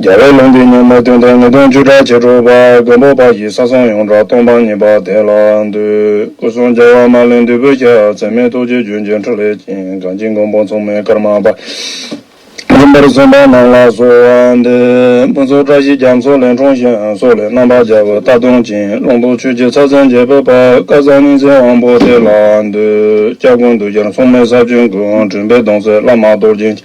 རྒྱལ་བའི་ལུང་འདི་ཉིད་མ་བསྟུན་ཏེ་ངེས་དོན་བཅུ་ཕྲག་ཕྱེད་དྲུག་པ་མགོན་པོ་པ་ཡི་ས་སང་ཡོངས་གྲགས་སྟོང་པ་ཉིད་པ་དེ་ལ་འདུད། སྐུ་གསུང་རྒྱལ་བ་མ་ལས་འདུས་པོས་ཀྱང་ཚད་མེད་ཐུགས་རྗེ་རྒྱུན་ཆེན་ཕྲིན་ལས་ཀྱིས་གངས་ཅན་མགོན་པོ་མཚུངས་མེད་ཀརྨ་པ་ཡིན་པར་གསུངས་པ་རྣམས་ལ་གསོལ་བ་འདེབས། ཕུན་ཚོགས་བཀྲ་ཤིས་རྒྱ་མཚོ་ལས་འཁྲུངས་ཤིང་སོག་ལེ་རྣམ་པར་སྦྱར་བའི་རྟ་གདོང་ཅན་ཀློང་དུ་ཆོས་རྗེ་ཚར་ཟན་རྒྱལ་པོས་པ་བཀའ་གསང་སྙིང་ཚེ་དབང་པོ་དེ་ལ་འདུད། སྐྱབས་ཀུན་འདུས་རྒྱལ་མཚུངས་མེད་ས་བཅུའི་མགོན་དྲུང་པའི་གདུང་སྲས་བླ་མ་རྡོ་རྗེ།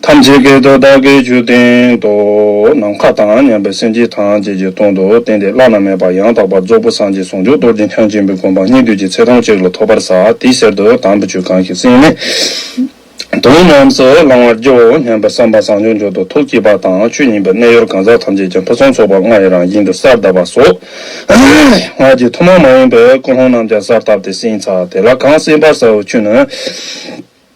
ཐམས་ཅད་སྐད་དོད་བདག་གིས་རྒྱུད་བསྟན་ཏོ། ནམ་མཁའ་དང་མཉམ་པའི་སེམས་ཅན་ཐམས་ཅད་ཀྱི་དོན་དུ་བསྟན་ཏེ་བླ་ན་མེད་པ་ཡང་དག་པར་རྫོགས་པོ་སངས་རྒྱས་ཟུང་འཇུག་རྡོ་རྗེ་འཆང་ཆེན་པོའི་དགོངས་པ་སྙིང་བསྡུས་ཀྱི་ཚེ་ཐུང་གཅིག་ལ་ཐོབ་པར་ས་དེའི་གསེར་དུ་དམ་པའི་ཆོས་གང་ཞིག་བསྲིངས་ནས་དོན་རྣམས་སུ་བླང་བར་བགྱིའོ་སྙམ་པའི་བསམ་པ་བཟང་སྙོམས་འབྱོར་དུ་ཐུགས་བསྐྱེད་པ་དང་ཆོས་ཉིད་པའི་གནས་ཡོར་གང་ཟག་ཐམས་ཅད་ཀྱང་ཕུན་སུམ་ཚོགས་པ་ལྔ་ཡི་རང་བཞིན་དུ་སར་དབབ་པ་སོགས་སྔགས་ཀྱི་ཐུན་མོང་མ་ཡིན་པའི་ཀུན་སློང་རྣམས་ཀྱང་སར་བཏབ་སྟེ་བསྲིངས་ཚར་དེ་ལ་གང་བསྲིངས་པར་ཟ་བའི་ཆུ་ནི།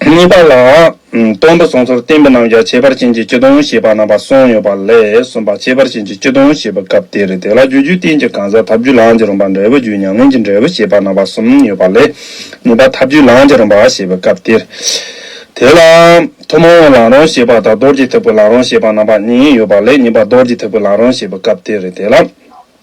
གཉིས་པ་ལ། སྟོང་དུ་སོང་ཚོར་བསྟན་པའི་རྣམ་གཞག་ཁྱད་པར་ཅན་གྱི་སྤྱི་སྟོང་ཞེས་པ་རྣམ་པ་གསུམ་ཡོད་པ་ལས་གསུམ་པ་ཁྱད་པར་ཅན་གྱི་སྤྱི་སྟོང་ཞེས་པའི་སྐབས་དེ་རེད་དེ་ལ་རྒྱུ་རྒྱུད་བསྟན་གྱི་གང་ཟག་ཐབས་རྒྱུད་ལའང་ཅི་རུང་པ་འབྲས་བུ་རྒྱུད་ཉམས་ལེན་གྱི་འབྲས་བུ་ཞེས་པ་རྣམ་པ་གསུམ་ཡོད་པ་ལས་གཉིས་པ་ཐབས་རྒྱུད་ལའང་ཅི་རུང་པ་ཞེས་པའི་སྐབས་དེ་རེད་དེ་ལ། ཐུན་མོང་བའི་ལང་རོང་ཞེས་པ་དང་རྡོར་གྱི་ཐེག་པའི་ལང་རོང་ཞེས་པ་རྣམ་པ་གཉིས་ཡོད་པ་ལས་གཉིས་པ་རྡོར་གྱི་ཐེག་པའི་ལང་རོང་ཞེས་པའི་སྐབས་དེ་རེད་དེ་ལ།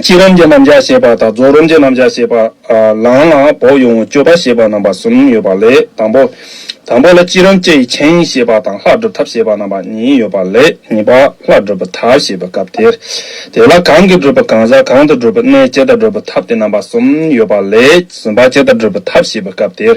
སྐྱིད་རོམ་གྱི་རྣམ་གཞག་ཞེས་པ་དང་རྫོགས་རོམ་གྱི་རྣམ་གཞག་ཞེས་པ། ལངས་ལ་བོགས་དབྱུང་བའི་སྤྱོད་པ་ཞེས་པ་རྣམ་པ་གསུམ་ཡོད་པ་ལས་དང་པོ། དང་པོ་ལ་སྐྱིད་རོམ་སྐྱེ་ཡི་མཁྱེན་ཡིན་ཞེས་པ་དང་ལྷག་སྒྲུབ་ཐབས་ཞེས་པ་རྣམ་པ་གཉིས་ཡོད་པ་ལས་གཉིས་པ་ལྷག་སྒྲུབ་པའི་ཐབས་ཞེས་པའི་སྐབས་དེར། དེ་ལ་གང་གིས་སྒྲུབ་པ་གང་ཟག་གང་དུ་སྒྲུབ་པའི་གནས་སྐྱེ་ལྟར་སྒྲུབ་པའི་ཐབས་ཏེ་རྣམ་པ་གསུམ་ཡོད་པ་ལས་གསུམ་པ་སྐྱེ་ལྟར་སྒྲུབ་པའི་ཐབས་ཞེས་པའི་སྐབས་དེར།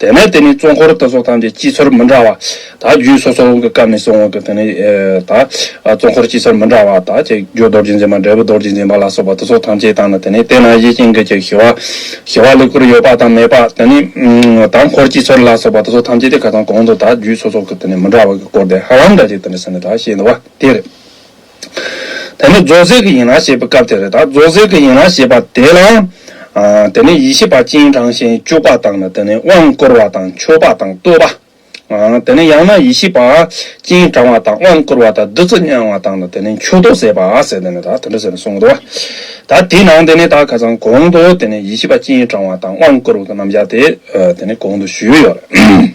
དེ་ནས་དེ་ནི་གཙོ་འཁོར་ལྟ་སོགས་ཐམས་ཅད་སྤྱི་ཚོར་མི་འདྲ་བ་དག་རྒྱུད་སོ་སོར་འོང་གི་སྐབས་ནས་བཟུང་འོང་གི་དེ་ནི་དག། གཙོ་འཁོར་སྤྱི་ཚོར་མི་འདྲ་བ་དག་ཅེས་རྒྱུ་རྡོ་རྗེ་འཛིན་པ་འབྲས་བུ་རྡོ་རྗེ་འཛིན་པ་ལ་སོགས་པ་དུ་སོགས་ཐམས་ཅད་དང་ནི་དེ་ནས་དེ་ན་ཡེ་ཤེས་འགུལ་གྱི་ཞི་བ། ཞི་བ་ལེགས་པོར་ཡོད་པ་དང་མེད་པ་དེ་ནི་དང། འཁོར་སྤྱི་ཚོར་ལ་སོགས་པ་དུ་སོགས་ཐམས་ཅད་དེ་ག་དང་གོང་དུ་དག་རྒྱུད་སོ་སོར་གྱི་དེ་ནི་མི་འདྲ་བ་གྱི་སྐོར་དེ་ཧ་ལམ་འདྲ་ཅིག་དེ་ནི་སེམས་ནི་དག་ཞེས་འདུ་བ་དེར། དེ་ནི་རྫོགས་ཟེར་གྱི་ཡན་ལག་བཤད་པའི་སྐབས་དེ་རེད་ད་རྫོགས་ཟེར་གྱི་ཡན་ལག་བཤད་པ་དེ་ལ། དེ་ནི་ཡེ་ཤེས་པ་སྤྱན་དྲངས་ཤིང་སྤྱུགས་པ་དང་ནི་དེ་ནི་དབང་བསྐུར་བ་དང་མཆོད་པ་དང་བསྟོད་པ། དེ་ནི་ཡང་ན་ཡེ་ཤེས་པ་སྤྱན་དྲངས་བ་དང་དབང་བསྐུར་བ་དང་བདུད་རྩི་མྱང་བ་དང་ནི་དེ་ནི་མཆོད་བསྟོད་ཟེར་བ་ཟེར་ནས་ནི་ད་དེ་འདྲ་ཟེར་ནས་གསུངས་འདུག་ད་དེའི་ནང་དེ་ནི་ད་ཁ་ཚང་གོང་དུ་དེ་ནི་ཡེ་ཤེས་པ་སྤྱན་དྲངས་བ་དང་དབང་བསྐུར་བ་གི་རྣམ་བཞག་དེ་དེ་ནི་གོང་དུ་ཞུས་ཡོད་རེད།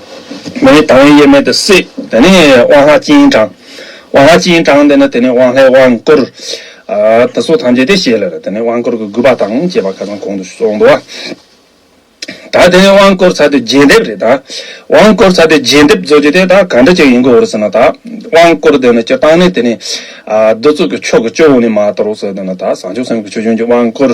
མེ་ཡི་དྭངས་དབྱེར་མེད་དུ་བསྲེ། དེ་ནས་དབང་ལྷ་སྤྱན་དྲངས། དབང་ལྷ་སྤྱན་དྲངས་ཏེ་ནི་དེ་ནས་དབང་ལྷའི་དབང་བསྐུར། དེ་སོགས་ཐམས་ཅད་དེ་བཞེས་ལ། དེ་ནས་དབང་བསྐུར་གྱི་དགོས་པ་དང་བཅས་པ་ཁ་ཚང་གོང་དུ་སོགས་འདུ་བ། ད་དེ་ནས་དབང་བསྐུར་ཚར་དུས་རྒྱས་འདེབས་རེ་ད། དབང་བསྐུར་ཚར་དུས་རྒྱས་འདེབས་རྫོགས་རྗེས་དེ་ད་ག་འདྲ་ཅིག་ཡིན་དགོས་རུ་ཟེར་ན་ད། དབང་བསྐུར་དེ་ནི་སྤྱིར་བཏང་ནི་དེ་ནི། བསྡུ་བཙུགས་ཀྱི་ཆོ་ག་སྤྱི་བོ་ནས་མ་དོར་བར་སོགས་དེ་ནི་ད་བཟང་ཕྱོགས་སེམས་ཀྱི་ཆོས་འབྱུང་གི་དབང་བསྐུར།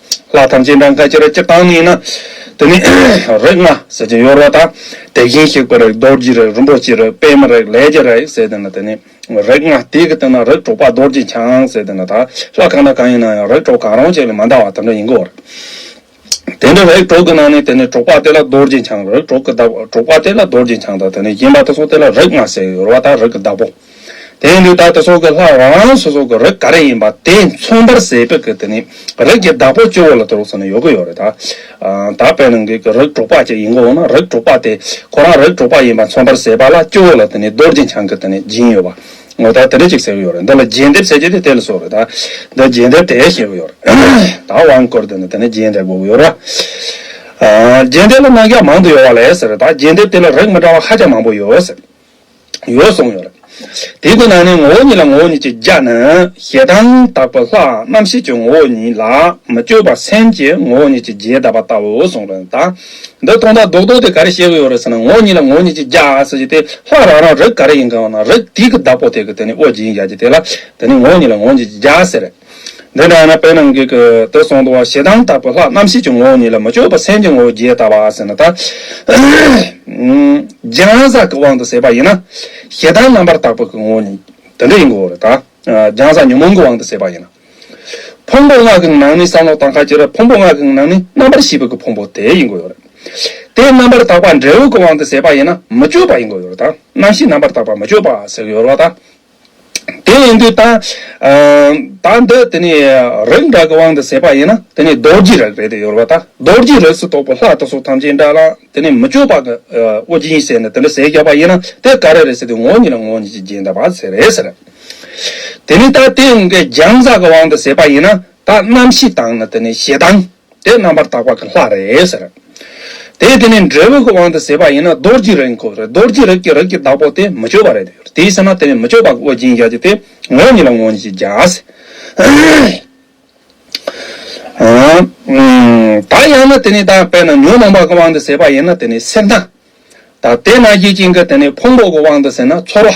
ལྷ་ཐམས་ཅད་འབྲང་ཁ་ཅིག་ར་ཅིག་བཏང་ནས་ན། དེ་ནས་རིགས་ལྔ་ཟེར་ཅིང་གཡོར་བ་དང། དེ་བཞིན་གཤེགས་པའི་རིགས་རྡོ་རྗེའི་རིགས་རིན་པོ་ཆེའི་རིགས་པད་མའི་རིགས་ལས་ཀྱི་རིགས་ཟེར་ཏེ་ན་དེ་ནས་རིགས་ལྔ་དེ་གི་སྟེང་ན་རིགས་དྲུག་པ་རྡོ་རྗེ་འཆང་ཟེར་ཏེ་ན་དག་ལྷ་གང་དང་གང་ཡིན་ན་ཡང་རིགས་དྲུག་གང་རུང་ཅིག་ལས་མ་འདའ་བ་དེ་འདྲ་ཡིན་དགོས་པར། དེ་འདྲ་རིགས་དྲུག་གི་ནང་ནས་དེ་ནས་དྲུག་པ་དེ་ལ་རྡོ་རྗེ་འཆང་རིགས་དྲུག་གི་བདག་པོ་དྲུག་པ་དེ་ལ་རྡོ་རྗེ་འཆང་དང་དེ་ནས་གཞན་པ་དེ་གསུམ་དེ་ལ་རིགས་ལྔ་ཟེར་གཡོར་བ་དང་རིགས་ཀྱི་བདག་པོ། དེ་ཡིན་དུས་བདག་དེ་སོག་གི་ལྷ་དབང་སོ་སོག་གི་རིགས་ག་རེ་ཡིན་པ་དེ་མཚུངས་པར་ཟས་དཔེ་གི་དེ་ནི་རིགས་ཀྱི་བདག་པོ་སྐྱེ་བོ་ལ་དུ་རོགས་ཟེར་ན་ཡོད་གི་ཡོད་རེད་ད། དག་པའི་ནང་གི་གི་རིགས་དྲུག་པ་ཅིག་ཡིན་གི་འོ་ན་རིགས་དྲུག་པ་དེ་ཁོ་རང་རིགས་དྲུག་པ་ཡིན་པ་མཚུངས་པར་ཟས་པ་ལ་སྐྱེ་བོ་ལ་དེ་ནི་རྡོ་རྗེ་འཆང་གི་དེ་ནི་སྦྱིན་ཡོད་པ་ངོ་ད་དེ་འདྲ་ཅིག་ཟེར་གི་ཡོད་རེད་འདི་ལ་རྒྱས་འདེབས་ཟེར་གྱི་དེ་དེ་ལ་སོག་རེད་ད་འདི་རྒྱས་འདེབས་དེ་ཞེས་གི་ཡོད་རེད་ད་དབང་བསྐུར་དེ་ནི་དེ་ནི་རྒྱས་འདེབས་གོ་གི་ཡོད་རེད་རྒྱས་འདེབས་ལ་གནང་རྒྱ་མང་དུ་ཡོད་བ་ལས་ཟེར་རེད་ད་རྒྱས་འདེབས་དེ་ལ་རིགས་མི་འདྲ་བ་ཧ་ཅང་མང་པོ་ཡོད་ཟེར། ཡོད་གསུངས་ཡོད། དེའི་དོན་ནང་ནས་ངོ་བོ་ཉིད་ལ་ངོ་བོ་ཉིད་ཀྱི་རྒྱ་ནི་ཞེ་སྡང་དག་པ་ལྷའང་རྣམ་ཤེས་ཀྱི་ངོ་བོ་ཉིད་ལ་མི་སྤྱོད་པར་སེམས་ཀྱི་ངོ་བོ་ཉིད་ཀྱི་རྒྱས་གདབ་པ་ལྟ་བུའོ་གསུངས་པ་ལྟར། འདི་སྟོང་དང་ལྡོག་ལྡོག་དེ་ག་རེ་བཤད་གི་ཡོད་རེད་ཟེར་ན་ངོ་བོ་ཉིད་ལ་ངོ་བོ་ཉིད་ཀྱི་རྒྱ་ཟེར་གྱི་དེ་ལྷ་རང་རང་རིགས་ག་རེ་ཡིན་གང་བ་ན་རིགས་དེ་གི་བདག་པོ་དེ་གི་དེ་ནི་དབུ་རྒྱན་ཡར་གྱི་དེ་ལ་དེ་ནི་ངོ་བོ་ཉིད་ལ་ངོ་བོ་ཉིད་ཀྱི་རྒྱ་ཟེར། དེ་ལྟར་ན་བོད་ནང་གི་གི་དོ་སོང་དུ་བ་ཞེ་སྡང་དག་པོ་ལྷག་རྣམ་ཤེས་ཀྱི་ངོ་བོ་ཉིད་ལ་མི་སྤྱོད་པ་སེམས་ཀྱི་ངོ་བོ་རྒྱས་བཏབ་པ་ཟེར་ན་ད། སྦྱིན་བསགས་ཀྱི་དབང་དུ་ཟད་པ་ཡིན་ན། ཞེ་སྡང་རྣམ་པར་དག་པོ་གི་ངོ་བོ་ཉིད་དེ་འདྲ་ཡིན་དགོས་རེད་ད། སྦྱིན་བསགས་ཉོན་མོངས་ཀྱི་དབང་དུ་ཟད་པ་ཡིན་ན། ཕུང་པོ་ལྔ་གི་ནང་ནི་བསམ་བློ་དང་ཁ་ཁྱེར་བ་ཕུང་པོ་ལྔ་གི་ནང་ནི་རྣམ་པར་ཤེས་པའི་གི་ཕུང་པོ་དེ་ཡིན་དགོས་རེད། དེ་རྣམ་པར་དག་པ་འབྲས་བུ་གི་དབང་དུ་ཟད་པ་ཡིན་ན་མི་སྤྱོད་པ་ཡིན་དགོས་རེད་ད། རྣམ་ཤེས་རྣམ་པར་དག་པ་མི་སྤྱོད་པ་ཟེར་གྱི་ཡོད་རེད་ད། དེ་ཡིན་དུས་ད། ད་འདི་དེ་ནི་རིགས་འདྲ་གི་དབང་དུ་ཟད་པ་ཡིན་ན་དེ་ནི་རྡོ་རྗེའི་རིགས་རེད་དེ་ཡོད་རོ་ད། རྡོ་རྗེའི་རིགས་སུ་གཏོགས་པའི་ལྷ་དེ་སོགས་ཐམས་ཅད་འདྲ་ལ་དེ་ནི་མི་བསྐྱོད་པ་གི་དབུ་རྒྱན་བྱས་ནས་དེ་འདྲ་ཟས་རྒྱག་པ་ཡིན་ན་དེ་ག་རེ་རེད་ཟེར་དུས་ངོ་གཉིས་ལ་ངོ་གཉིས་ཀྱི་རྒྱན་ལྟ་བ་ཟེར་རེད་ཟེར། དེ་ནི་ད་དེ་འགའི་རྒྱང་བཟའ་གི་དབང་དུ་ཟད་པ་ཡིན་ན་དག་རྣམ་ཤེས་དང་ནི་དེ་ནི་ཞེ་སྡང། དེ་རྣམ་པར་དག་པ་གི་ལྷ་རེད་ཟེར། དེས་དེ་ནི་འབྲས་བུ་གི་དབང་དུ་ཟད་པ་ཡིན་ན་རྡོར་གྱི་རིགས་གོ། རྡོར་གྱི་རིགས་ཀྱི་རིགས་ཀྱི་བདག་པོ་དེ་མི་བསྐྱོད་པ་རེད་དེ། དེའི་ཕྱིར་ན་དེ་ནི་མི་བསྐྱོད་པ་གི་དབུ་འབྱིན་བྱ་རྒྱུ་དེ་ངོ་ཉིད་ལ་ངོ་ཉིད་ཀྱི་རྒྱ། དག་ཡང་ན་དེ་ནི་དག་པས་ན་ཉོན་མོངས་པ་གི་དབང་དུ་ཟད་པ་ཡིན་ན་དེ་ནི་སེར་སྣ། དག་དེས་ན་ཡིད་བཞིན་གྱི་དེ་ནི་ཕུང་པོ་གི་དབང་དུ་ཟད་ན་ཚོར་བ།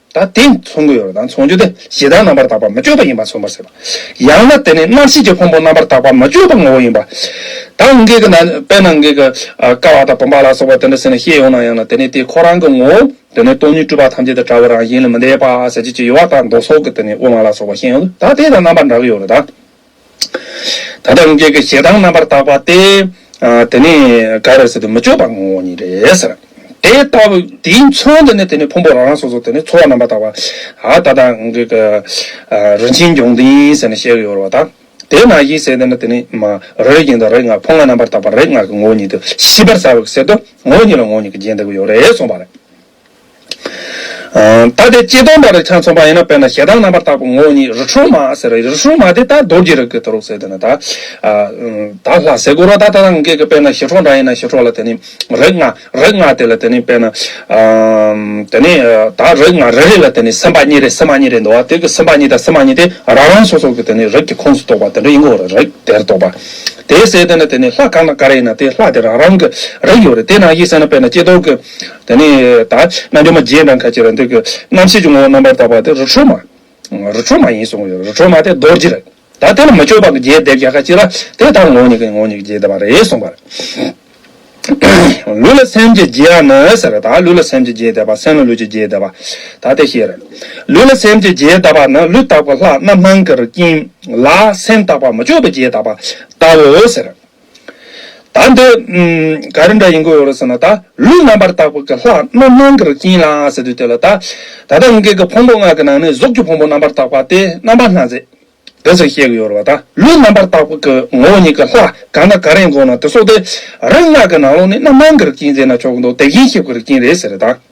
ད་དེ་མཚུངས་ཀྱི་ཡོ་རོ་དང་མཚུངས་རྒྱུ་དེ་ཞེ་སྡང་རྣམ་པར་དག་པ་མི་བསྐྱོད་པ་ཡིན་པར་མཚོན་པར་ཟད་པ། ཡང་ན་དེ་ནི་རྣམ་ཤེས་ཀྱི་ཕུང་པོ་རྣམ་པར་དག་པ་མི་བསྐྱོད་པ་ངོ་བོ་ཡིན་པ། དང་ངེས་ཀྱི་ན་དཔེར་ན་ངེས་ཀྱི་ཀ་བ་དང་བུམ་པ་ལ་སོགས་པ་དེ་འདྲ་ཟིན་ནས་ཤེས་ཡོང་ན་ཡང་ན་དེ་ནི་དེ་ཁོ་རང་གི་ངོ་བོ་དེ་ནི་སྟོང་ཉིད་སྤྲུལ་པ་ཐམས་ཅད་དུ་བཀྲ་བོ་རང་བཞིན་ལས་མི་འདས་པ་ཟད་བྱེད་ཀྱི་ཡོ་བ་དང་མདོ་སོགས་ཀྱི་དེ་ནི་དབུ་མ་ལ་སོགས་པ་ཤེས་ཡོང་དུ་ད་དེ་དང་རྣམ་པར་འདྲ་གི་ཡོ་རོ་དང། ད་ལྟ་དབྱིན་སྐད་ཀྱི་ཞེ་སྡང་རྣམ་པར་དག་པ་སྟེ། དེ་ནི་ག་རེ་ཟེར་དུ་མི་ཆོག་པ་ངོ་བོ་ཉིད་རེད་ཟེར། དེ་ལྟ་བུ་དེའི་མཚོན་དུ་ནི་དེ་ནི་ཕུང་པོ་རང་རང་སོ་སོ་དེ་ནི་འཚོ་བ་རྣམ་པར་དག་པ། ད་ལྟ་དབྱིན་སྐད་ཀྱི་རིན་ཆེན་འབྱུང་ལྡན་ཟེར་ནས་བཤད་ཀྱི་ཡོད་རེད་བ་དང། དེས་ན་དབྱིན་སྲས་དེ་ནི་དེ་ནི་རོའི་རྒྱན་དང་རོའི་སྔགས་ཕོ་ལྔ་རྣམ་པར་དག་པ་རོའི་སྔགས་ཀྱི་ངོ་བོ་ཉིད་དུ་ཤེས་པར་བྱའོ་ཞེས་ཟེར་དུ་ངོ་བོ་ཉིད་ལ་ངོ་བོ་ཉིད་ཀྱི་རྒྱན་བསྟན་གྱི་ཡོད་རེད་གསུངས་པ་རེད། ད་ལྟའི་སྐྱིལ་སྟོང་པ་རི་ཁྲ་མཚོན་པ་ཡིན་ན་དཔེར་ན་ཞེ་སྡང་རྣམ་པར་དག་པའི་ངོ་བོ་ཉིད་རི་ཁྲོ་མ་ཟེར་རོ་རི་ཁྲོ་མ་དེ་ལྟར་རྡོ་རྗེ་རིགས་ཀྱི་དུ་རུ་ཟེར་དེ་ནི་དག་ལྷ་ཟེ་གུ་རུ་དག་ད་ལྟ་གེགས་ཀྱི་དཔེར་ན་ཞི་ཁྲོ་འདྲ་ཡིན་ན་ཞི་ཁྲོ་ལ་དེ་ནི་རིགས་ལྔ་རིགས་ལྔ་དེ་ལ་དེ་ནི་དཔེར་ན་དེ་ནི་དག་རིགས་ལྔ་རེ་རེ་ལ་དེ་ནི་སེམས་དཔའ་གཉིས་རེ་སེམས་མ་གཉིས་རེ་འདུག་བ་དེ་གི་སེམས་དཔའ་གཉིས་དང་སེམས་མ་གཉིས་དེ་རང་རང་སོ་སོ་གི་དེ་ནི་རིགས་ཀྱི་ཁོངས་སུ་གཏོགས་པ་དེ་འདྲ་ཡིན་གོ་རིགས་དེར་གཏོགས་པ་དེ་ཟེར་དེ་ནི་དེ་ནི་ལྷ་གང་དང་ག་རེ་ཡིན་ན་དེ་ལྷ་དེ་རང་རང་གི་རིགས་ཡོད་རེད་དེ་ནང་བཞིན་ཟེར་ན་དཔེར་ན་སྐྱིལ་སྟོང་གི། དེ་ནས་ད་རྣལ་འབྱོར་མ་བརྒྱད་དང་ཁ་ཅིག་རང་འདོད་ཀྱི། རྣམ་ཤེས་ཀྱི་ངོ་བོ་རྣམ་པར་དག་པ་དེ་རུ་ཁྲོ་མ། རུ་ཁྲོ་མ་ཡིན་གསུང་གི་ཡོད་རུ་ཁྲོ་མ་དེ་རྡོ་རྗེ་རེད། ད་དེ་ལ་མི་སྤྱོད་པ་ཀྱི་རྒྱས་འདེབས་ཀྱང་ཁ་ཅིག་ལ་དེ་ལྟར་ངོ་ཉིད་ཀྱི་ངོ་ཉིད་ཀྱི་རྒྱས་འདེབས་པ་རེད་གསུང་པར། ལུས་ལ་སེམས་ཀྱི་རྒྱས་ཡང་ནི་ཟེར། ད་ལུས་ལ་སེམས་ཀྱི་རྒྱས་འདེབས་པ་སེམས་ལ་ལུས་ཀྱི་རྒྱས་འདེབས་པ། ད་དེ་བཤད་རན། ལུས་ལ་སེམས་ཀྱི་རྒྱས་གདབ་པ་ནི་ལུས་རྟག་པའི་ལྷ་རྣམ་སྣང་གི་རྐྱེན་ལ་སེམས་རྟག་པ་མི་སྤྱོད་པའི་རྒྱས་གདབ་པ་ལྟ་བུའོ་ཟེར། ད་འདི་ག་རེ་འདྲ་ཡིན་དགོས་རེད་ཟེར་ན་ད་ལུས་རྣམ་པར་དག་པ་གི་ལྷག་རྣམ་སྣང་གི་རིགས་ཡིན་ལ་ཟེར་དུས་དེ་ལ་ད་ད་ལྟ་ཡིན་མཁན་གི་ཕུང་པོ་ལྔ་གི་ནང་ནས་གཟུགས་ཀྱི་ཕུང་པོ་རྣམ་པར་དག་པ་སྟེ་རྣམ་པ་སྣ་རྩེ། དེ་ཟེར་བཤད་གི་ཡོད་རེད་བ་ད་ལུས་རྣམ་པར་དག་པ་གི་ངོ་བོ་ཉིད་གི་ལྷག་གང་དང་ག་རེ་ཡིན་དགོས་ན་དེ་སོགས་དེ་རིགས་ལྔ་གི་ནང་ལོགས་ནས་རྣམ་སྣང་གི་རིགས་ཀྱིན་ཟེར་ན་ཆོག་གི་འདུག་དེ་རྒྱན་ཞབས་ཀྱི་རིགས་ཀྱིན་རེད་ཟེར་རེད་ད།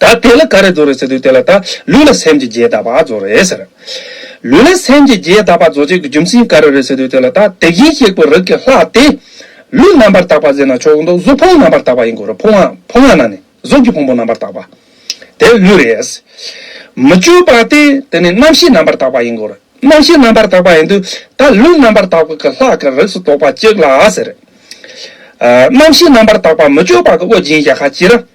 ད་དེ་ལ་ག་རེ་རྫོགས་རེད་ཟེར་དུས་དེ་ལ་ད་ལུས་ལ་སེམས་ཀྱི་རྒྱས་གདབ་པ་རྫོགས་རེད་ཟེར། ལུས་ལ་སེམས་ཀྱི་རྒྱས་གདབ་པ་རྫོགས་བྱེད་ཀྱི་རྒྱུ་མཚན་ག་རེ་རེད་ཟེར་དུས་དེ་ལ་ད་དེ་བཞིན་གཤེགས་པའི་རིགས་ཀྱི་ལྷ་དེ། ལུས་རྣམ་པར་དག་པ་ཟེར་ན་ཆོག་གི་འདུག་གཟུགས་ཕུང་རྣམ་པར་དག་པ་ཡིན་དགོས་རེད་ཕུང་ཕུང་ང་ན་ནི་གཟུགས་ཀྱི་ཕུང་པོ་རྣམ་པར་དག་པ། དེ་ལུས་རེད། མི་བསྐྱོད་པ་དེ་དེ་ནི་རྣམ་ཤེས་རྣམ་པར་དག་པ་ཡིན་དགོས་རེད་རྣམ་ཤེས་རྣམ་པར་དག་པ་ཡིན་དུས་ད་ལུས་རྣམ་པར་དག་པ་གི་ལྷ་གི་རིགས་སུ་གཏོགས་པ་གཅིག་ལ་ཟེར། རྣམ་ཤེས་རྣམ་པར་དག་པ་མི་བསྐྱོད་པ་གི་དབུ་རྒྱན་བཞག་ཁ་ཅིག་རེད།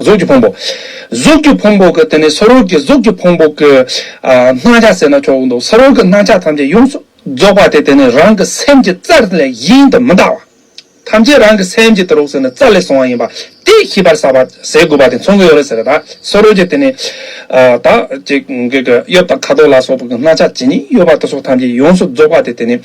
གཟུགས་ཀྱི་ཕུང་པོ། གཟུགས་ཀྱི་ཕུང་པོ་གི་དེ་ནས་ས་རུལ་གྱི་གཟུགས་ཀྱི་ཕུང་པོ་གི། སྣང་ཆ་ཟེར་ན་ཆོག་གི་འདུག་ས་རུལ་གྱི་སྣང་ཆ་ཐམས་ཅད་ཡོངས་སུ་རྫོགས་པ་དེ་དེ་ནས་རང་གི་སེམས་ཀྱི་རྩ་ལས་གཞན་དུ་མི་འདའ་བ། ཐམས་ཅད་རང་གི་སེམས་ཀྱི་དུ་རུག་ཟེར་ན་རྩ་ལས་བཟུང་བ་ཡིན་པ་དེ་ཤེས་པར་བྱ་བ་ཟེར་དགོས་པ་དེ་མཚོན་གྱི་ཡོད་རེད་ཟེར་ད་ས་རུལ་གྱི་དེ་ནས། ད། གཡོབ་དང་ཁ་དོག་ལ་སོགས་པ་གི་སྣང་ཆ་ཇི་སྙེད་གཡོ་བ་དེ་སོགས་ཐམས་ཅད་ཡོངས་སུ་རྫོགས་པ་དེ་དེ་ནས།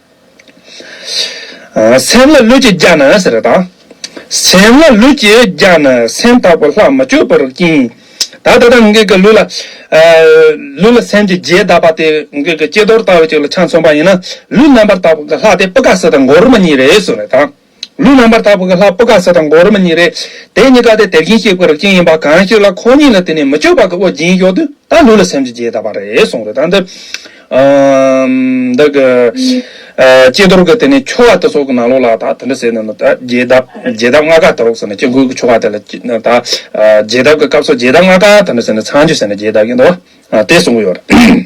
སེམས་ལ་ལུས་ཀྱིས་བརྒྱགས་ན་ཟེར་དང། སེམས་ལ་ལུས་ཀྱིས་བརྒྱགས་ན་སེམས་དག་པོ་ལྷག་མ་སྤྱོད་པར་བསྐྱིང། ད་ལྟ་ང་ངེད་ཀྱི་ལུས་ལ་སེམས་ཀྱི་རྗེས་དག་པ་དེ་ངེད་ཀྱི་སྐྱེ་རྡོར་ལྟ་བུ་ཅིག་ལ་ཆ་མཚོན་པ་ཡིན་ན་ལུས་རྣམ་པར་དག་པ་ལྷག་དེ་པུཀྐ་སཱི་དང་མགོ་རུ་མ་གཉིས་རེད་ཟེར་བ་དང། ལུས་རྣམ་པར་དག་པའི་ལྷ་སྤུ་ཁ་ཟེར་དང་མགོ་རུ་མ་གཉིས་རེད། དེ་གཉིས་ཀ་དེ་དེར་གྱིན་གཤེགས་པའི་རིགས་ཅན་ཡིན་པ་གང་ཞིག་ལ་ཁོང་གཉིས་ལ་དེ་ནས་མི་བསྐྱོད་པ་གི་དབུ་སྦྱིན་གཡོག་དུས་ད་ལུས་ལ་སེམས་ཀྱི་རྗེས་ད་པ་རེད་གསུངས་རེད་ད་འདི། འདི་གི། ལྕེ་དོར་གི་དེ་ནས་ཆོ་ག་དེ་སོགས་ཀྱི་ནང་ལོགས་ལ་ད་དེ་འདྲ་ཟེར་ནས་ནི་ད་རྗེས་གདབ་རྗེས་གདབ་ལྔ་ཀ་དེ་རོགས་ཟེར་ནས་སྐྱེ་དགུའི་ཆོ་ག་དེ་ལ་ད། རྗེས་གདབ་ཀྱི་སྐབས་སུ་རྗེས་གདབ་ལྔ་ཀ་དེ་འདྲ་ཟེར་ནས་ཚངས་སྤྱོད་ཟེར་ནས་རྗེས་གདབ་ཀྱིན་འདུག་བ། དེ་གསུངས་ཀྱི་ཡོད་རེད།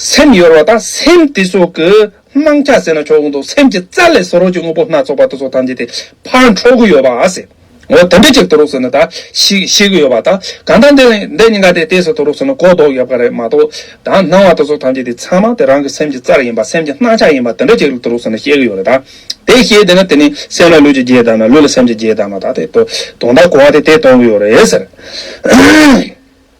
སེམས་གཡོར་བ་དང་སེམས་དེ་སོགས་ཀྱི་སྣང་ཆ་ཟེར་ན་ཆོག་གོ་འདུག་སེམས་ཀྱི་རྩ་ལས་སོ་རོགས་ཀྱི་དངོས་པོ་སྣ་ཚོགས་པ་དེ་ཚོ་ཐམས་ཅད་དེ་ཕར་འཕྲོ་གི་ཡོད་པ་ཟེར། འོ་དེ་འདྲ་ཅིག་དུ་རོགས་ཟེར་ན་ད་ཤིག་ཤེས་ཀྱི་ཡོད་པ་ད་གང་ལྟར་འདི་འདི་གཉིས་ཀ་དེ་དེ་སོ་དུ་རོགས་ཟེར་ན་གོ་ལྡོག་ཡོད་པ་རེད་མ་གཏོགས་ད་སྣང་བ་དེ་ཚོ་ཐམས་ཅད་དེ་ཚང་མ་དེ་རང་གི་སེམས་ཀྱི་རྩ་ཡིན་པ་སེམས་ཀྱི་སྣང་ཆ་ཡིན་པ་དེ་འདྲ་ཅིག་དུ་རོགས་ཟེར་ན་ཤེས་ཀྱི་ཡོད་རེད་ད། དེ་ཤེས་དེ་ན་དེ་ནི་སེམས་ལ་ལུས་ཀྱི་རྗེས་བལྟ་ན་ལུས་ལ་སེམས་ཀྱི་རྗེས་བལྟ་ན་ད་དེ་དོ་དོང་དང་གོ་བ་དེ་དེ་སྟོང་གི་ཡོད་རེད་ཟེར།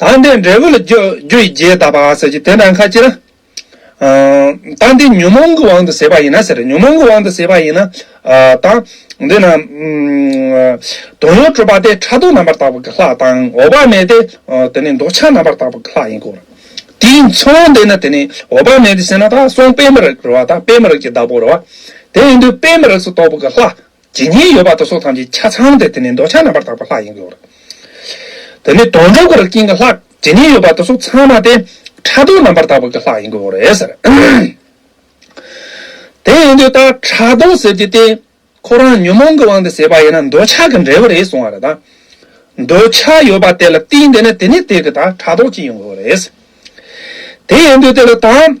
དང་དེ་འབྲས་བུ་ལ་རྒྱུ་ཡི་རྗེས་ཟླ་བ་ཟེར་གྱི་དེ་འདྲ་ཁ་ཅིག་ན། དང་དེ་ཉོན་མོངས་ཀྱི་དབང་དུ་ཟད་པ་ཡིན་ན་ཟེར། ཉོན་མོངས་ཀྱི་དབང་དུ་ཟད་པ་ཡིན་ན། དང། འདི་ན། དོན་ཡོད་གྲུབ་པ་དེ་ཕྲ་རྡོག་རྣམ་པར་དག་པ་གི་ལྷག་དང་འོག་པ་མེད་དེ། དེ་ནི་འདོགས་ཆ་རྣམ་པར་དག་པ་གི་ལྷག་ཡིན་གོ། དེའི་མཚུངས་དེ་ནི་དེ་ནི་འོག་པ་མེད་དེ་ཟེར་ན་དག་སོང་དཔེ་མི་རགས་རུ་བ་དག་དཔེ་མི་རགས་ཀྱི་བདག་པོ་རུ་བ། དེ་ཡིན་དུས་དཔེ་མི་རགས་སུ་གཏོགས་པ་གི་ལྷག་ཇི་སྙེད་ཡོད་པ་དེ་སོགས་ཐམས་ཅད་ཆ་ཚང་སྟེ་དེ་ནི་འདོད་ཆགས་རྣམ་པར་དག་པ་ལྷ་ཡིན་གྱི། དེ་ནི་དོན་གྲུབ་པར་སྐྱེ་འགག་ལྷག། ཇི་སྙེད་ཡོད་པ་དེ་སོགས་ཚང་མ་སྟེ། ཕྲ་དོག་རྣམ་པར་དག་པ་ཀྱི་ལྷ་ཡིན་གྱི། དེ་ཡིན་དུས་ད་ཕྲ་དོག་ཟེར་གྱི་སྟེ། ཁོ་རང་ཉོན་མོངས་ཀྱི་དབང་དུ་བྱས་པ་ཡིན་ན་འདོད་ཆགས་ཀྱི་འབྲས་བུ་རེད་གསུང་བ་རེད་དཱ། འདོད་ཆགས་ཡོད་པ་དེ་ལ་རྟིང་འདེད་ན་དེ་ནི་དེ་གི་ད་ཕྲ་དོག་ཅིག་ཡིན་གྱི། དེ་ཡིན་དུས་དེ་ལ་ད།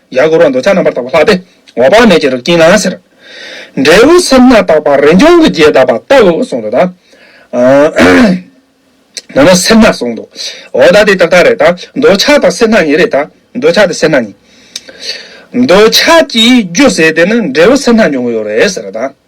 ཡར་སྐོར་བ་འདོད་ཆགས་རྣམ་པར་དག་པ་ལྷག་སྟེ་འོག་དཔག་མེད་ཀྱི་རིགས་ཀྱིས་ན་ཟེར། འབྲས་བུ་སེམས་སྣ་བརྟགས་པ་རིན་འབྱུང་གི་རྒྱས་གདབ་པ་ལྟ་བུ་གསུངས་འདུག་དང། ན་ནི་སེམས་སྣ་གསུངས་འདུག་འོ་ད་དེ་ཏག་ཏག་རེད་དང་འདོད་ཆགས་དང་སེམས་སྣ་གཉིས་རེད་དང་འདོད་ཆགས་དེ་སེམས་སྣ་གཉིས། འདོད་ཆགས་ཀྱིས་རྒྱུ་བསལ་ཏེ་ན་འབྲས་བུ་སེམས་སྣ་འབྱུང་གི་ཡོད་རེད་ཟེར་དང།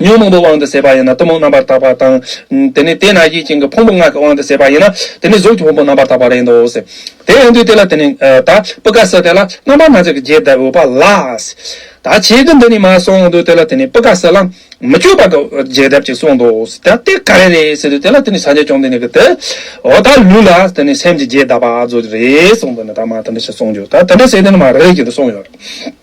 ཉོན་མོངས་པའི་དབང་དུ་ཟད་པ་ཡིན་ན་གཏི་མུག་རྣམ་པར་དག་པ་དང། དེ་ནས་དེས་ན་ཡིད་བཞིན་གྱི་ཕུང་པོ་ངག་གི་དབང་དུ་ཟད་པ་ཡིན་ན་དེ་ནི་གཟུགས་ཀྱི་ཕུང་པོ་རྣམ་པར་དག་པ་རེད་དོ། དེ་ཡང་དུས་དེ་ལ་དེ་ནི་ད་པུ་ཀ་སི་དེ་ལ་རྣམ་པར་སྣང་མཛད་ཀྱི་རྗེས་ཟློས་པ་ལ། ད་བྱེད་ཀྱི་འདི་ནི་མ་སོང་དུས་དེ་ལ་དེ་ནི་པུ་ཀ་སི་ལ་མི་བསྐྱོད་པ་གི་རྗེས་ཟློས་ཀྱིས་གསུངས་ཏོ། ད་དེ་ག་རེ་རེད་ཟེར་དུས་དེ་ལ་དེ་ནི་སངས་རྒྱས་བྱུང་དེ་ནི་གི་དེའོ། ད་ལུས་ལ་དེ་ནི་སེམས་ཀྱི་རྗེས་ཟློས་པ་གཟུགས་རེད་གསུངས་དུས་ནི་ད་མ་དེ་འདྲ་ཞིག་གསུངས་རྒྱུ་ད་དེ་འདྲ་ཟེར་དུས་ནི་མ་རེད་ཅེས་དུ་གསུངས་ཡོད།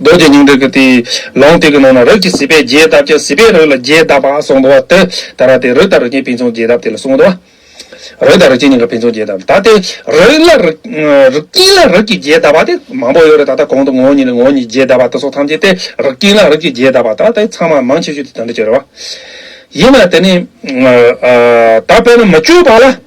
རྡོ་རྗེ་སྙིང་འདྲེགས་ཀྱི་ལོང་སྟེགས་ཀྱི་ནང་ན་རིགས་ཀྱི་སྲིད་པས་རྒྱས་གདབ་ཀྱང་སྲིད་པའི་རིགས་ལ་རྒྱས་གདབ་པ་གསུངས་པ་དེ་ལྟར་ར་སྟེ་རིགས་དང་རིགས་ཅན་ཕན་ཚུན་རྒྱས་གདབ་དེ་ལ་གསུངས་ཏོ། རིགས་དང་རིགས་ཅན་གཉིས་ཀ་ཕན་ཚུན་རྒྱས་གདབ་ད་སྟེ་རིགས་ལ་རིགས་ཀྱིས་ལ་རིགས་ཀྱིས་རྒྱས་གདབ་པ་དེ་མང་པོ་ཡོད་རེ་ད་ལྟ་གོང་དུ་ངོ་བོ་ཉིད་ལ་ངོ་བོ་ཉིད་རྒྱས་གདབ་པ་དེ་སོགས་ཐམས་ཅད་དེ་རིགས་ཀྱིས་ལ་རིགས་ཀྱིས་རྒྱས་གདབ་པ་ད་ལྟ་ཚང་མ་མང་ཆེ་ཤོས་དེ་དོན་དུ་གྱུར་རོ། ཡིན་ན་དེ་ནི། ད་དཔེར་ན་མི་བསྐྱོད་པ་ལ།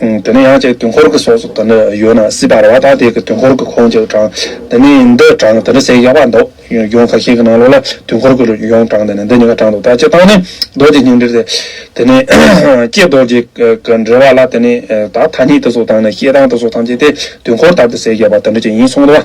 དེ་ནས་ཡང་ཅིག་དུས་འཁོར་གྱི་སོགས་སུ་དེ་འདྲ་ཡོད་ན་སྲིད་པར་བ་དག་དེ་གི་དུས་འཁོར་གྱི་ཁོང་ཅིག་དྲང། དེ་ནས་འདི་དྲང་དེ་འདྲ་ཟེར་ཡག་པ་འདུག་ཡོང་ག་ཤེད་ཀྱི་ནང་ལོགས་ལ་དུས་འཁོར་གྱི་ཡོང་དྲང་དེ་ནས་འདི་གཉིས་ཀ་དྲང་འདུག་ད་སྤྱི་དང་ནི་རྡོ་རྗེ་སྙིང་འདྲེར་ཟེར། དེ་ནས་ཀྱེ་རྡོ་རྗེ་གི་འདྲེ་བ་ལ་དེ་ནས་ད་ཐ་སྙད་དེ་སོགས་དང་ནི་ཤེད་དང་དེ་སོགས་ཐམས་ཅད་དེ་དུས་འཁོར་ལྟར་དུ་ཟེར་ཡག་པ་དེ་འདྲ་ཅིག་ཡིན་གསུངས་འདུག་བ།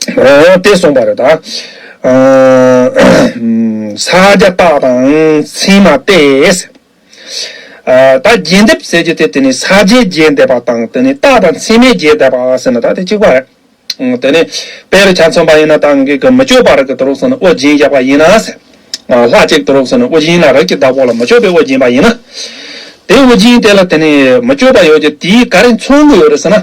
སྟེ་གསུངས་པ་རེད་ད། ས་བརྒྱ་རྟགས་དང་མཚན་མ་སྟེ། ད་རྒྱས་འདེབས་ཟེར་རྒྱུ་དེ་དེ་ནི་ས་བརྒྱའི་རྒྱས་འདེབས་པ་དང་དེ་ནི་རྟགས་དང་མཚན་མའི་རྒྱས་འདེབས་པ་ཟེར་ན་ད་དེ་གཅིག་པ་རེད། དེ་ནི་དཔེ་རུ་ཆ་མཚོན་པ་ཡིན་ན་ད་འགའི་གི་མི་ལྕོགས་པར་གི་དུ་རུག་སོང་ན་དབུ་རྒྱན་བཞག་པ་ཡིན་ན། ལྷ་གཅིག་དུ་རུག་སོང་ན་དབུ་རྒྱན་ལ་རིགས་ཀྱི་བདག་པོ་ལ་མི་ལྕོགས་པའི་དབུ་རྒྱན་པ་ཡིན་ན། དེ་དབུ་རྒྱན་དེ་ལ་དེ་ནི་མི་ལྕོགས་པ་ཡོད་ཀྱི་དེའི་ག་རེ་མཚོན་དགོས་ཡོད་རེད་ཟེར་ན།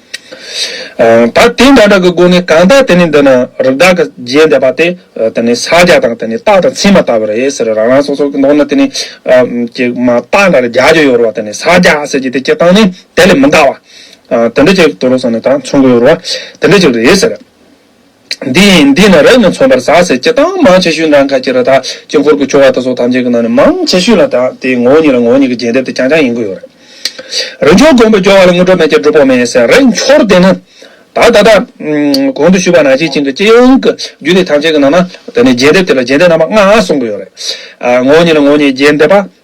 ད་དེ་འདྲ་འདྲ་གི་སྒོ་ནས་གང་ལྟར་དེ་ནི་འདི་ན་རི་དྭགས་ཀྱི་རྗེས་འདེད་པ་དེ་དེ་ནི་ས་རྒྱ་དང་དེ་ནི་སྟག་དང་ཚིག་མ་བཏགས་པ་རེད་ཟེར་རང་རང་སོ་སོ་གི་ནང་ན་དེ་ནི་ཀྱི་མ་སྟག་འདྲ་རི་རྒྱ་རྒྱུ་ཡོད་རུང་བ་དེ་ནི་ས་རྒྱ་ཟེར་གྱི་དེ་ཀྱི་སྟངས་ནི་དེ་ལས་མི་འདའ་བ། དེ་འདྲ་ཅིག་དུ་རུང་སོང་ནས་ད་མཚུངས་གི་ཡོད་རུང་བ་དེ་འདྲ་ཅིག་རེད་ཟེར། འདི་ཡིན་འདི་ནི་རབ་ནི་མཚོན་པར་ཟག་ཟེར་སྤྱི་དང་མང་ཆེ་ཤོས་ནང་ཁ་ཁྱེར་བ་དག་དཀྱིལ་འཁོར་གྱི་ཆོ་ག་དག་སོགས་ཐམས་ཅད་ཀྱི་ནང་ནས་མང་ཆེ་ཤོས་ལ་དག་དེའི་ངོ་བོ་ཉིད་ལ་ངོ་བོ་ཉིད་ཀྱི་རྒྱས་འདེབས་དེ་རྐྱང་རྐྱང་ཡིན་དགོས་ཡོད་རེད། རིགས་མཆོག་མགོན་པོ་སྦྱོར་བ་ལ་དངོས་གྲུབ་མེད་ཀྱང་སྒྲུབ་ཕོག་མེད་ཟེར་རེད་འཁྱོར་དེ་ནི། ད་ལྟ་དང། གོང་དུ་ཞུས་པ་ནང་བཞིན་ཅིང་གི་སྤྱི་ཡོངས་ཀྱི་རྒྱུད་སྡེ་ཐམས་ཅད་ཀྱི་ནང་ན་དེ་ནི་རྒྱས་འདེབས་དེ་ལ་རྒྱས་འདེབས་རྣམ་པ་ལྔ་གསུངས་དགོས་ཡོད་རེད། ངོ་བོ་ཉིད་ལ་ངོ་བོ་ཉིད་རྒྱས་འདེབས་པ།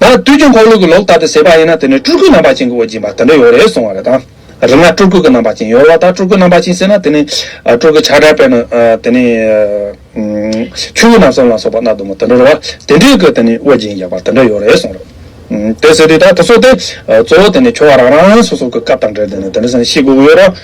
ན། དུས་ཀྱི་འཁོར་ལོ་གི་ལོག་ལྟ་དུ་ཟད་པ་ཡིན་ན་དེ་ནི་སྤྲུལ་སྐུའི་རྣམ་པ་ཅན་གྱི་འོད་འབྱིན་པ་དེ་འདྲ་ཡོད་རེད་གསུང་བ་རེད་དང། རིག་སྔགས་སྤྲུལ་སྐུ་གི་རྣམ་པ་ཅན་ཡོད་རེད་བ་ད་སྤྲུལ་སྐུའི་རྣམ་པ་ཅན་ཟེར་ན་དེ་ནི། སྤྲུལ་སྐུའི་ཆགས་བྲལ་བས་ན་དེ་ནི། ཆོས་སྐུ་ནམ་བསམ་ལ་སོགས་པ་རྣ་ལྟོ་མོ་དེ་འདྲར་བ་དེ་འདྲའི་སྐུ་དེ་ནི་འོད་འབྱིན་ཡོད་པ་དེ་འདྲ་ཡོད་རེད་གསུང་རེད། དེ་ཟེར་དུས་ད་དེ་སོགས་དེ། གཙོ་བོ་དེ་ནི་ཁྱོད་བ་རང་རང་སོ་སོ་གི་སྐབས་དང་འབྲེལ་དེ་ནི་དེ་འདྲ་སེམས་ཤེས་དགོས་ཀྱི་ཡོད་ར།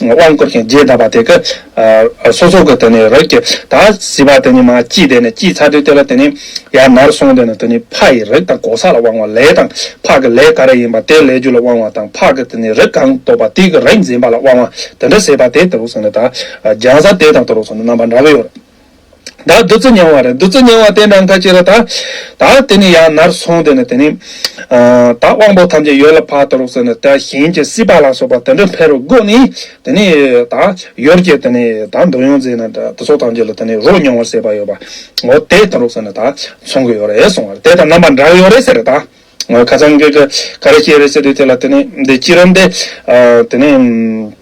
དབང་བསྐུར་ཞིང་རྗེས་གདབ་པ་དེ་ཀ། སོ་སོ་ཀ་དེ་ནི་རོ་བརྒྱད་དག། བཟི་བ་དེ་ནི་མ་སྐྱིད་དེ་ནི་སྐྱིད་ཚ་དྲོད་བརྟས་པ་དེ་ནི་ཡར་ནར་སོང་དེ་ནི་དེ་ནི་ཕ་ཡི་རིགས་དང་གོ་ས་ལ་དབང་བ་ལས་དང་ཕ་གི་ལས་ག་རེ་ཡིན་པ་དེ་ལས་རྒྱུ་ལ་དབང་བ་དང་ཕ་གི་དེ་ནི་རིགས་གང་སྟོབས་པ་དེ་གི་རིགས་འཛིན་པ་ལ་དབང་བ་དེ་འདྲ་ཟེར་བ་དེ་དེ་རུ་སོང་ནས་དག། རྒྱང་ཟ་དེ་དང་དེ་རུ་སོང་ནས་རྣམ་པ་འདྲ་བོའི། བདག་བདུད་རྩི་མྱང་བ་རེ་བདུད་རྩི་མྱང་བ་དེ་འདྲ་འགའ་ཅི་རེ་ད། ད་དེ་ནི་ཡང་ནར་སོང་དེ་ནི་དེ་ནི། ད་དབང་པོ་ཐམས་ཅད་ཡོད་ལ་བར་དོ་རུག་ཟེར་ནས་དེ་གཞན་གྱི་སྲིད་པ་ལ་སོགས་པ་དེ་འདྲ་འཕེལ་རུ་བསྒོ་ནས་དེ་ནི་ད། ཡོར་གྱི་དེ་ནི་ད་འདོད་ཡོན་རྫས་ནི་དེ་སོགས་ཐམས་ཅད་ལ་དེ་ནི་རོ་མྱོང་བར་སྲེད་པ་ཡོད་པ། ངོ་དེ་དང་རུག་ཟེར་ནས་ད་མཚུངས་ཀྱི་ཡོ་རེ་སོང་བ་རེ་དེ་དང་རྣམ་པ་འདྲ་ཡོ་རེ་ཟེར་ད། ངོ་ཁ་ཚང་གི་ག་རེ་ཤེས་རེ་ཟེར་དུས་དེ་ལ་དེ་ནི་འདི་ཅི་རམ་དེ། དེ་ནི།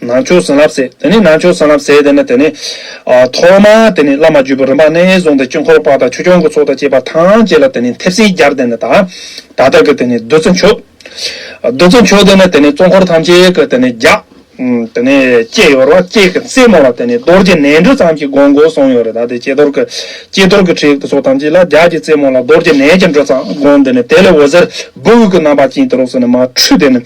ནང་ཆོས་བཟང་ལབ་ཟེར་དེ་ནི་ནང་ཆོས་བཟང་ལབ་ཟེར་དེ་ནི་དེ་ནི། ཐོག་མར་དེ་ནི་བླ་མ་བརྒྱུད་པ་རིམ་པ་རྣལ་བཟུང་དང་དཀྱིལ་འཁོར་པ་དང་ཆོས་སྐྱོང་གི་ཚོགས་དང་བཅས་པ་ཐམས་ཅད་ལ་དེ་ནི་མཐེབ་སྲིན་སྦྱར་དེ་ནི་ད་ལྟར་གྱི་དེ་ནི་བདུད་རྩི་མཆོད། བདུད་རྩི་མཆོད་དེ་ནི་དེ་ནི་གཙོ་འཁོར་ཐམས་ཅད་ཀྱི་དེ་ནི་རྒྱ། དེ་ནི་བཅས་ཡོད་རེད་བ་བཅས་ཀྱི་རྩེ་མོ་ལ་དེ་ནི་རྡོར་གྱི་ནལ་འབྲུ་ཙམ་གྱི་སྒོང་སྒོ་གསུམ་ཡོད་རེད་ད་དེ་བཅས་རྡོར་གྱི། བཅས་རྡོར་གྱི་ཁྲིའི་ཚོགས་ཐམས་ཅད་ལ་རྒྱ་ཀྱི་རྩེ་མོ་ལ་རྡོར་གྱི་ནལ་གྱི་འབྲུ་ཙམ་སྒོང་དེ་ནི་དེ་ལས་འོད་ཟེར་སྦུག་གི་རྣམ་པ་ཅན་དེ་རོ་སོ་ནི་མ་འཁྲུལ་དེ་ནི།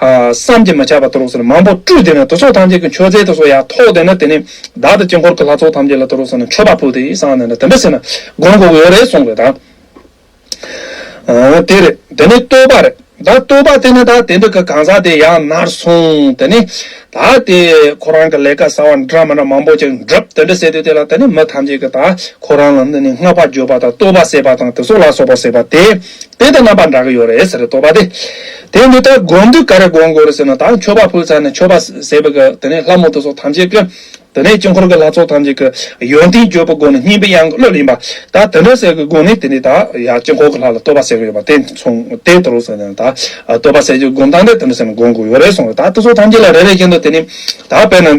བསམ་གྱིས་མི་ཁྱབ་པ་ཏུ་རུ་སོ་ནི་མང་པོ་སྤྲུལ་དེ་ནི་དུར་ཚོགས་ཐམས་ཅད་ཀྱི་མཆོད་རྫས་དུ་སོ་ཡ་ཐོག་དེ་ནི་དེ་ནི་བདག་དང་དཀྱིལ་འཁོར་གྱི་ལྷ་ཚོགས་ཐམས་ཅད་ལ་ཏུ་རུ་སོ་ནི་མཆོད་པ་ཕུལ་ཏེ་གསང་བ་ནི་ལ་དམ་པས་ཟིན་ན་དགོན་དགུ་གོ་རེ་གསུངས་པའི་དང། དེ་རེ་དེ་ནི་བསྟོད་པ་རེ་བདག་བསྟོད་པ་དེ་ནི་བདག་དེ་འདྲ་གི་གང་ཟག་དེ་ཡང་ནར་གསུངས་དེ་ནི་བདག་དེས་ཁོ་རང་གི་ལས་ཀ་བསགས་བ་འདྲ་མིན་མང་པོ་ཅིག་འགྲུབ་དེ་འདྲ་ཟེར་དུས་དེ་ལ་དེ་ནི་མི་ཐམས་ཅད་ཀྱི་དག་ཁོ་རང་ལ་ནི་བསྔགས་པ་བརྗོད་པ་དང་བསྟོད་པ་བསད་པ་དང་དེ་སོགས་ལ་སོགས་པ་བསད་པ་དེ། དེ་དང་རྣམ་པར་འདྲ་གི་ཡོད་རེད་ཟེར་རེ་དོགས་པ་དེ། དེ་འདི་ལྟར་བསྒོམ་དུས་ག་རེ་བསྒོམ་དགོས་རེད་ཟེར་ན་དང་མཆོད་པ་ཕུལ་ཚར་ནས་མཆོད་པ་ཟས་པའི་སྐབས་དེ་ནས་ལྷ་མོ་ཏི་སོགས་ཐམས་ཅད་ཀྱི། དེ་ནས་དཀྱིལ་འཁོར་གྱི་ལྷ་ཚོགས་ཐམས་ཅད་ཀྱི། ཡོན་ཏན་བརྗོད་པའི་སྒོ་ནས་སྙིང་པོའི་དབྱངས་ཀྱི་གླུ་ལེན་པ། ད་དེ་འདྲ་ཟེར་གི་སྒོ་ནས་དེ་ནས་ད་ཡང་དཀྱིལ་འཁོར་གྱི་ལྷ་ལ་བསྟོད་པ་ཟེར་གི་ཡོད་པ་དེ་མཚུངས་དེ་ལྟར་རོ་ཟེར་ནས་ད། བསྟོད་པ་ཟས་བཅུ་བསྒོམ་སྟངས་དེ་དེ་འདྲ་ཟེར་ནས་བསྒོམ་དགོས་ཡོད་རེད་གསུངས་རེད་ད་ཏི་སོགས་ཐམས་ཅད་ལ་རེ་རེ་བཞིན་དུ་དེ་ནས། ད་དཔེར་ན།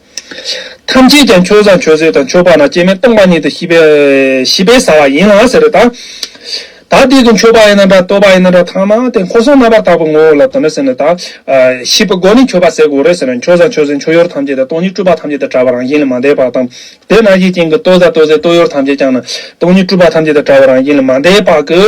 ཐམས་ཅད་ཀྱང་ཁྱོད་བཟང་ཁྱོད་བཟོད་དང་ཁྱོད་འཕགས་ན་སྐྱེ་མེད་སྟོང་པ་ཉིད་དུ་ཤི་བས་ཤི་བས་ཟ་བ་ཡིན་ལ་ཟེར་རོ། ད་དེ་དུ་འཆོས་པ་ཡིན་ན་འདྲ་ལྟོས་པ་ཡིན་ན་འདྲ་ཐ་མ་དེ་འཁོར་གསུམ་རྣམ་པར་དག་པའི་ངོ་བོ་ལ་དོན་ནོ་ཟེར་ན་ད་ཤི་བའི་སྒོ་ནི་འཆོས་པ་ཟད་དགོས་རེད་ཟེར་ན་ཁྱོད་བཟང་ཁྱོད་བཟོད་འཆོས་ཡོར་ཐམས་ཅད་དང་སྟོང་ཉིད་སྤྲུལ་པ་ཐམས་ཅད་དང་བྲལ་བ་རང་བཞིན་ལས་མ་འདས་པ་དང། དེས་ན་གཞི་རྐྱེན་གྱི་ལྟོས་ཟ་ལྟོས་ཟད་ལྟོས་ཡོར་ཐམས་ཅད་ཀྱང་ན་སྟོང་ཉིད་སྤྲུལ་པ་ཐམས་ཅད་དང་བྲལ་བ་རང་བཞིན་ལས་མ་འདས་པ་གི།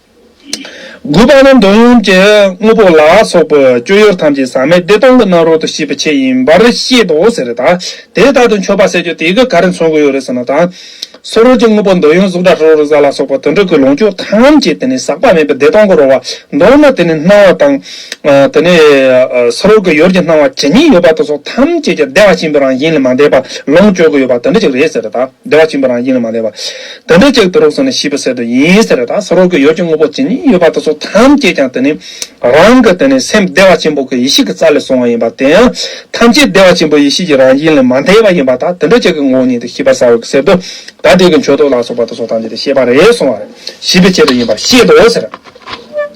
དགུ་པ་ནི་འདོད་ཡོན་གྱི་དངོས་པོ་ལ་སོགས་པའི་སྤྱོད་ཡུལ་ཐམས་ཅད་ཟག་མེད་བདེ་སྟོང་གི་རྣམ་རོལ་དུ་ཤེས་པའི་ཆེད་ཡིན་པར་བཤད་དོ་ཟེར་རེ་ད། དེ་ལྟར་དུ་མཆོད་པ་བསད་གཅོད་དེ་གའི་ག་རེ་མཚོན་དགོས་ཡོད་རེ་ཟེར་ན་ད། སོ་རོལ་གྱི་དངོས་པོ་འདོད་ཡོན་གཟུགས་སྒྲ་དྲི་རོ་རེག་བྱ་ལ་སོགས་པ་དོན་གྲུབ་ཀྱི་ལོངས་སྤྱོད་ཐམས་ཅད་དེ་ནི་ཟག་པ་མེད་པའི་བདེ་སྟོང་གི་རོལ་བ་མདོར་ན་དེ་ནི་སྣང་བ་དང། དེ་ནས་སོ་རོལ་གྱི་ཡོར་གྱི་སྣང་བ་ཇི་སྙེད་ཡོད་པ་དེ་སོགས་ཐམས་ཅད་ཀྱི་བདེ་བ་ཆེན་པོའི་རང་བཞིན་ལས་མ་འདས་པ་ལོངས་སྤྱོད་དགོས་ཡོད་པ་དེ་འདྲ་ཅིག་རེད་ཟེར་རེ་ད། བདེ་བ་བཅིངས་པ་རང་བཞིན་ལ་མ་ལས་པ། དེ་འདྲ་ཅིག་དུ་རོགས་སོང་ནས་ཤི་བ་ཟད་དོ་ཡིན་ཟེར་བ་དང་ས་རོག་གི་ཡོ་བྱད་དངོས་པོ་ཇི་སྙེད་ཡོད་པ་དེ་ཚོ་ཐམས་ཅད་ཀྱང་དེ་ནི་རང་གི་དེ་ནི་སེམས་བདེ་བ་ཆེན་པོ་གི་ཡེ་ཤེས་ཀྱི་རྩ་ལས་སོང་བ་ཡིན་པ་དེ་ཡང་ཐམས་ཅད་བདེ་བ་ཆེན་པོའི་ཡེ་ཤེས་ཀྱི་རང་བཞིན་ལས་མ་འདས་པ་ཡིན་པ་དང་དེ་འདྲ་ཅིག་གི་ངོ་བོ་ཉིད་དུ་ཤི་བ་ཟ་བ་གི་ཟད་དོ། ད་དེ་གི་མཆོད་བསྟོད་ལ་སོགས་པ་དེ་ཚོ་ཐམས་ཅད་དེ་ཤེས་པ་རེ་ཟུང་བ་ཞི་བའི་ཆེད་དུ་ཡིན་པར་བཤད་དོ་ཟེར།